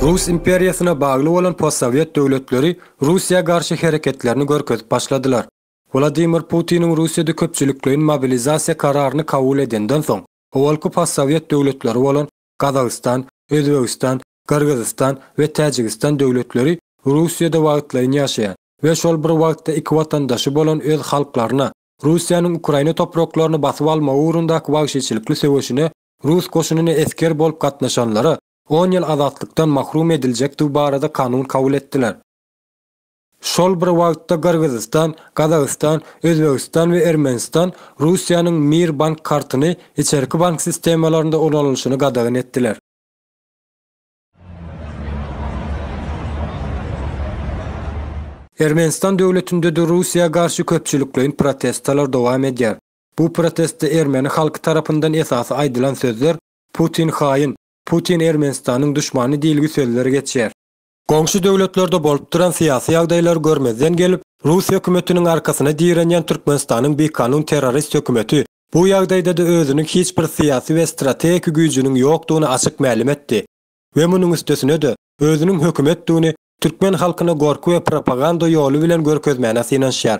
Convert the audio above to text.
Rus imperiýasyna bagly bolan postsowet döwletleri Russiýa garşy hereketlerini görkezip başladylar. Wladimir Putiniň Russiýada köpçülikleýin mobilizasiýa kararyny kabul edenden soň, owalky postsowet döwletleri bolan Gazagystan, Özbegistan, Gyrgyzystan we Täjigistan döwletleri Russiýada wagtlaýyn ýaşaýan we şol bir wagtda iki watandaşy bolan öz halklaryna Russiýanyň Ukraina topraklaryny basyp almagy ugrundaky wagşyçylykly söweşine Rus goşunyna esger bolup gatnaşanlara on ýyl azatlykdan mahrum ediljekdigi barada kanun kabul etdiler. Şol bir wagtda Gyrgyzystan, Gazagystan, Özbegistan we Ermenistan Russiýanyň Mir bank kartyny içerki bank sistemalarynda ulanylyşyny gadagan etdiler. Ermenistan döwletinde-de Russiýa garşy köpçülikleýin protestler dowam edýär. Bu protestde ermeni halky tarapyndan esasy aýdylan sözler Putin haýyn, Putin Ermenistanyň duşmany diýilgi sözler geçýär. Goňşy döwletlerde bolup duran syýasy ýagdaýlary görmezden gelip, rus hökümetiniň arkasyna direnýän Türkmenistanyň bikanun terrorist hökümeti bu ýagdaýda-da özüniň hiç bir syýasy we strategik güýjüniň ýokdugyny açyk mälim etdi we munuň üstesine-de özüniň hökümetdigini türkmen halkyna gorky we propaganda ýoly bilen görkezmäne synanyşýar.